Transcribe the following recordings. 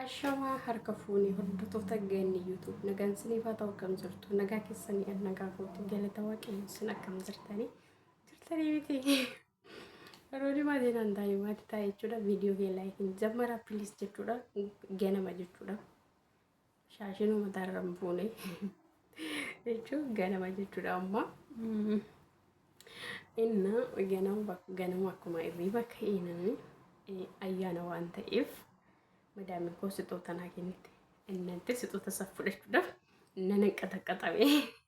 Ashamaa harka fuunee hordoftoota geenni YouTube nagaan siniif haa ta'u akkam jirtu nagaa keessanii an nagaa gootu galata waaqayyoon sun akkam jirtanii jirtanii miti yeroo dhimaa seenaan taa'ee maatii taa'e jechuudha viidiyoo kee laayikiin jammara pilis jechuudha ganama jechuudha. Shaashinuu mataarra hin fuune jechuun ganama jechuudha amma. Inna ganama ganama akkuma irriiba ka'inani ayyaana waan ta'eef madaamii koo sixoota naa kennite. Innanti sixoota isaa fudhachuudhaaf nana qaxaqaxame.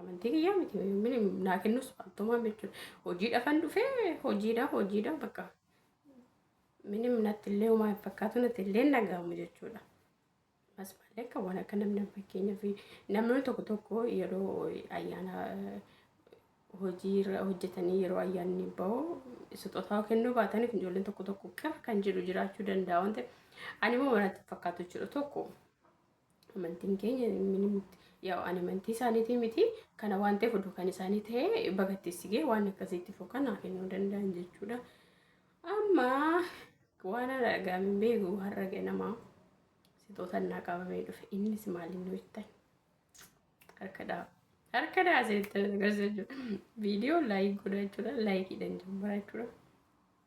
Amantii kiyyaa miti yommuu naa kennus faaltumaa jechuudha. Hojiidhaafan dhufee hojiidha hojiidha bakka minim natti illee homaa hin fakkaatu natti illee nagaamu jechuudha. As malee kan waan akka namni fakkeenyaaf namni tokko tokko yeroo ayyaana hojii irra hojjetanii yeroo ayyaanni bahu sixotaa kennuu baatanii kun ijoolleen tokko tokko qir kan jedhu jiraachuu danda'a waan ta'eef ani immoo manatti fakkaatu jechuudha tokko. Amantiin keenya yaa'u ani amantii isaaniitii miti kana waan ta'eef oduu kan isaanii ta'e bagatteessigee waan akkasiitti fokan haa kennuu danda'an jechuudha. Amma waan argaa hin beeku har'a ganamaa sixoota naa qabamee dhufe innis maaliin nu ittan harka dha'a. Harka dha'a seetan agarsiisa jechuudha. Viidiyoo laayik godhaa jechuudha laayikiidhaan jimmaa jechuudha.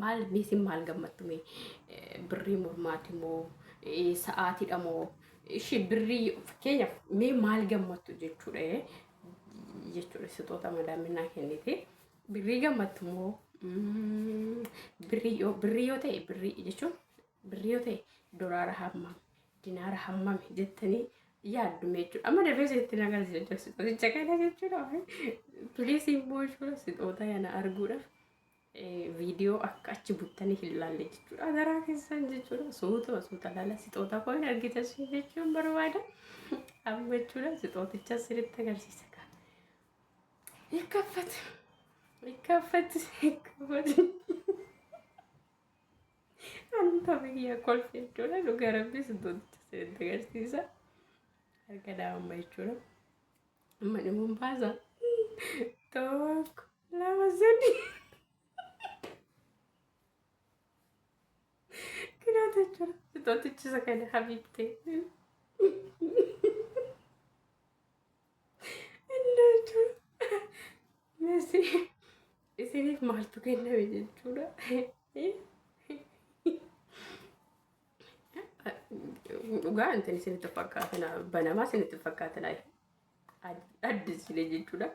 Maal mee sin maal gammattu mee birrii mormaati moo sa'aatiidha moo ishii birrii fakkeenyaaf mee maal gammattu jechuudha jechuudha sixoota madaaminaa kennite birrii gammattu moo birrii yoo birrii yoo ta'e birrii jechuun birrii yoo ta'e doraara hamma Dinaara hammami jettanii yaaddu mee jechuudha. Amma dafee isinitti na agarsiisa jechuudha. Sixooticha kana jechuudha. Piliis immoo jechuudha sixoota kana arguudhaaf viidiyoo akka achi buttanii hin laalle jechuudha. Adaraa keessan jechuudha. Suuta suuta laala sixoota koo hin argitan sun jechuun barbaada. Amma jechuudha sixooticha isinitti agarsiisa kan. Ikkaffat. Ikkaffat. Ikkaffat. Anta biyya kolfi jechuudha dhuga rabbi sintotti seente agarsiisa. Harka daa'imma jechuudha. Amma dhimuun baasa. Tokko lama sadi. Kiraata jechuudha. Sintootichisa kana habiibtee. Isiniif maaltu kenname jechuudha. Dhugaa wanti isinitti fakkaatina banamaa isinitti fakkaatina addisilee jechuudha.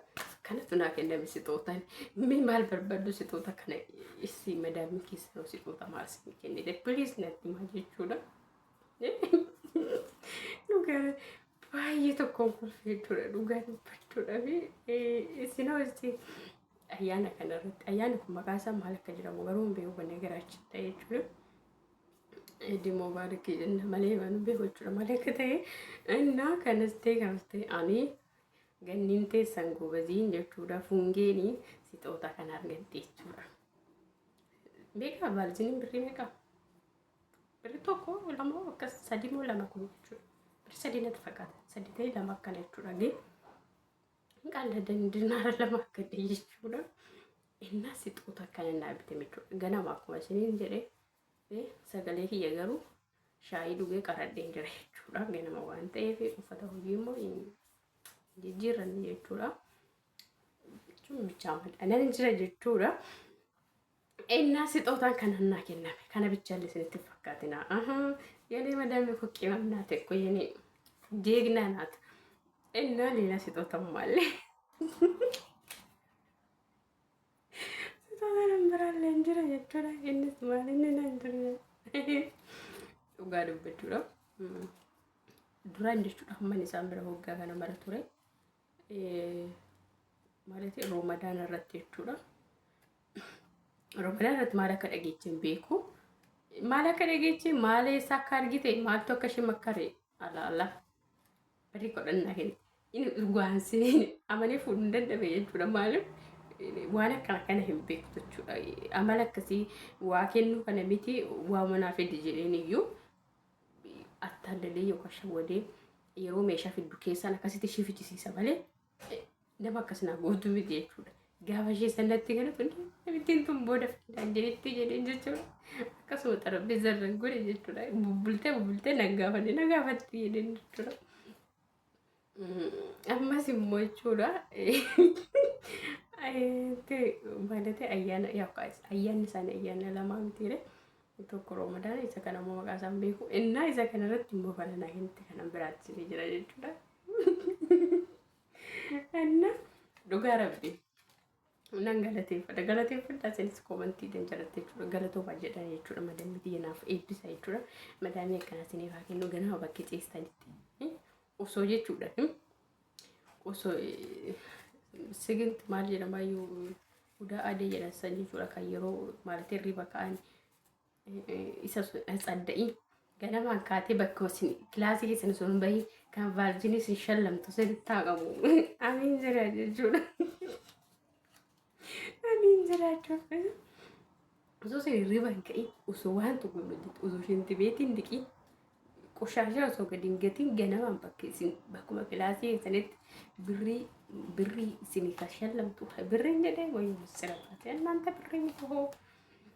Kanatu naa kenname sixootaan. Mee maal barbaaddu sixoota kana issi madaamni keessanoo sixoota maal isin kennite? Please natti himaa jechuudha. Dhugaa baay'ee tokkoon kolfee jechuudha. Dhugaa dubbachuudhaaf isin ho'isti ayyaana kana irratti ayyaanni kun maqaa isaa maal akka jedhamu garuu hin beeku kanneen garaachitta jechuudha. Dimoo baarikii jenna malee waan hin beeku jechuudha malee akka ta'e innaa kanas ta'e kanas ta'e ani ganniin teessan gobaziin jechuudha fungeeni sixoota kan argatte jechuudha. Beekaa baalziniin birrii meeqaa? Birri tokko lama akkas sadii moo lama kun jechuudha. Birri sadii natti fakkaata. Sadii ta'ee lama akkana jechuudha. Gee qalladan dinaara lama akka ta'e jechuudha. Innaa sixoota akkana naa bite jechuudha. Ganama akkuma isiniin jedhee sagalee kiyya garuu shaayii dhugee qaradheen jira jechuudha. Ganama waan ta'eef uffata hojii immoo jijjiirranne jechuudha. Jechuun bichaa madaalan jira jechuudha. Ennaa sixootaan kan hannaa kenname kana bichaan isinitti hin fakkaatina. Yenee madaamii koo qimam naate koo yenee jeegnaa naate. Ennaa leelaa sixootaan maallee. Sixootaan hin biraallee hin jira jechuudha. Innis maal inni naan jira. Dhugaa dubbachuudha. Duraan jechuudha hamman isaan bira hoggaa kana mara ture. ማለት Ramadan irratti jechuudha. Ramadan irratti maal akka dhageeche hin beeku. Maal akka dhageeche maal eessa akka argite maaltu akka ishee makkare ala ala barii godhannaa kenna. Inni dhugaan seenee amanee fuudhuu hin danda'e jechuudha maaliif waan akkana kana hin beektu jechuudha. Amala akkasii waa kennuu kana miti waa manaa fedhi jedheen iyyuu attaallalee yookaan shawwadee yeroo meeshaa fiddu keessaan akkasitti ishee fichisiisa malee nama akkas naa gootu miti jechuudha. Gaafa ishee sanatti kana tun ittiin tun booda fidaan jedhetti jedheen jechuudha. Akkasuma xarapheessa irra godhe jechuudha. Bubbultee bubbultee na gaafatte na gaafatti jedheen jechuudha. Ammas immoo jechuudha. Maalatee ayyaana ayyaanni isaanii ayyaana lamaa mitiire. Tokko Roomadaan isa kana immoo maqaa isaan beeku. Innaa isa kana irratti immoo baranaa hinti kana biraatti ni jira jechuudha. Innaa dhugaa rabbi. Nan galateeffadha. Galateeffadha isinis koomantii dan jalatte jechuudha. Galatooma jedha jechuudha. Madaamii tiyya naaf eebbisa jechuudha. Madaamii akkana isiniif haa kennu ganama bakki ciistanitti. Osoo jechuudha. Osoo siginti maal jedhama iyyuu hudaa adee jedhan san jechuudha kan yeroo maallatii riba ka'an isa tsadda'ii ganamaan kaatee bakka isin kilaasii keessan osoo hin bahin kan vaarjinii isin shallamtu sirriitti haa qabu. Amiin jira jechuudha. Amiin jira jechuudha. Osoo isin hirriba hin ka'in osoo waan tokko hin hojjetu osoo isin dibeetiin diqii qoshaashaa osoo gadi hin gatiin ganamaan bakka isin bakkuma kilaasii keessanitti birrii birrii isin shallamtu birrii hin jedhee wayii sirabbaatee annaanta birrii miti hoo.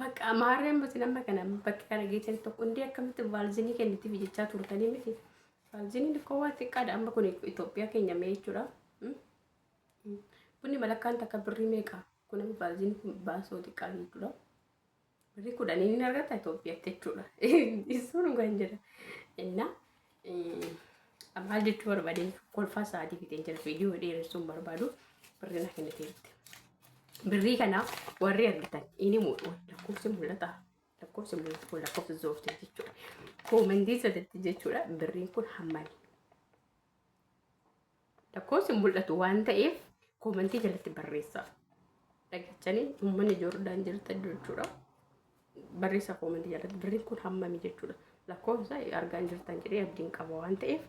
Bakka maarree amma isin amma kana bakka kana geessan tokko hundi akkamitti vaalzinii kennitiif jechaa turtanii miti. Vaalziniin xiqqoo waan xiqqaadha amma kun Itoophiyaa keenya mee jechuudha. Bunni malakkaan takka birrii meeqa? Kun amma vaalziniin kun baasoo xiqqaa jechuudha. Birrii kudhaniin hin argata Itoophiyaatti jechuudha. Isuun dhugaan jira. Innaa Maal jechuu barbaadeen kolfaa sa'aatii fixee jira viidiyoo dheeressuun barbaadu birrii na kenniteerti. Birrii kana warri argitan inni muuxu lakkoofsi mul'ata lakkoofsi mul'atu kun lakkoofsa zoortii jechuudha. Koomentii sadatti jechuudha birriin kun hammani. Lakkoofsi hin mul'atu waan ta'eef koomantii jalatti barreessa. Dhageechanii uummanni Joordaan jirtan jechuudha. Barreessa koomantii jalatti birriin kun hammami jechuudha. Lakkoofsa argaan jirtan jedhee abdiin qaba waan ta'eef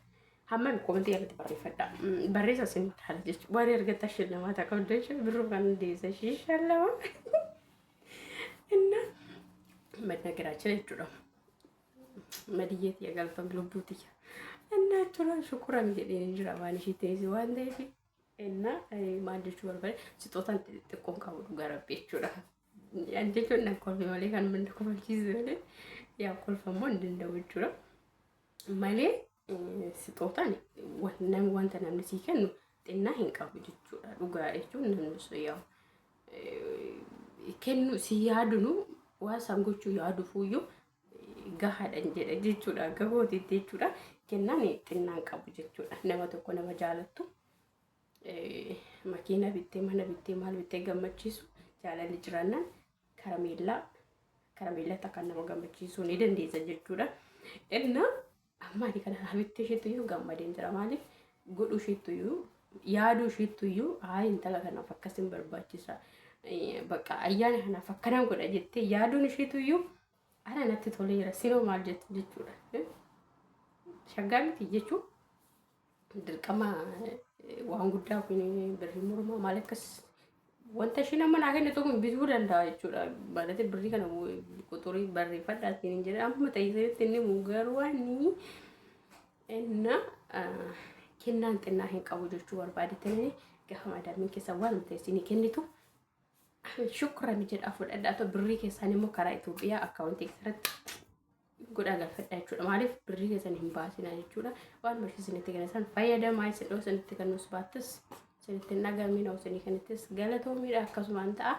hammami koomantii jalatti barreeffadha. Barreessa isin taal jechuudha. Waan argattan shillama ta'a qabdan jechuudha. Birruu kan hundeessa shillama. Inna madda garaachana jechuudha. Madiyyee tiyya galfame lubbuu tiyya. Innaa jechuun shukuran jedhee jira waan ishii teessi waan ta'eef innaa maal jechuu barbaade sixootaan xixiqqoon qabu dhugaa rabbi jechuudha. Ani jechuun nan kolfe malee kan manda kofalchiise malee yaa kolfa immoo hin danda'u jechuudha. Malee sixootaan wanta namni sii kennu xinnaa hin qabu jechuudha. Dhugaa jechuun namni sun yaa kennu si yaadunu waan san gochuu yaadufuyyuu gahaadhan jedha jechuudha gahooti jechuudha kennaan xinnaan qabu jechuudha nama tokko nama jaalattu makiina bittee mana bittee maal bittee gammachiisu jaalalli jiraannaan karameellaa karameellaa takka nama gammachiisuu ni dandeessa jechuudha. Innaa Amma ani kana irraa bittee ishiittuyyuu gammadeen jira. Maaliif godhuu ishiittuyyuu yaaduu ishiittuyyuu haa intala kanaaf akkas hin barbaachisa. Eh, Bakka ayyaana kanaaf akkanan godha jettee yaaduun ishiittuyyuu ana natti toleera. Sinoo maal jettu jechuudha. Eh, Shaggaa miti jechuun Dirqama waan guddaa kun birrii mormaa maal akkas wanta isheen amma naa kennitu kun bituu danda'a jechuudha. Baadate birrii kana quxurii barreeffadhaa siin hin jedhe amma ta'iseetti inni muu garuu inni inna kennaan xinnaa hin qabu jechuu barbaade ta'ee gaafa maadaamiin keessaa waan ta'e siin kennitu shukran jedhaa fudhadhaa ta'u birrii keessaan immoo karaa Itoophiyaa akkaawwantii keessatti godhaa galfadhaa jechuudha. Maaliif birrii keessan hin baasinaa jechuudha. Waan barsiisa isinitti kenna san fayyadamaa isin dhoo isinitti kennus baattis isinitti hin dhagamin dhoo isinii kennittis galatoomiidha akkasumaan ta'a.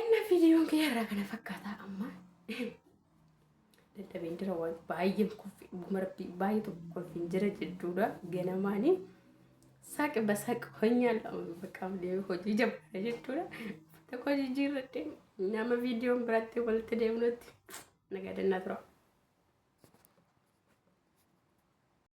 Inna viidiyoon kiyya irraa kana fakkaataa amma dadhabeen jira waan baay'een kuffi dhuguma rabbii baay'ee tokko kolfiin jira jechuudha ganamaanii. Saq basaq honyaan lama bakka deemu hojii jabbaadha jechuudha. Uffata koo jijjiirradhe nama viidiyoon biraatti walitti deemnutti nagaa dannaa tura.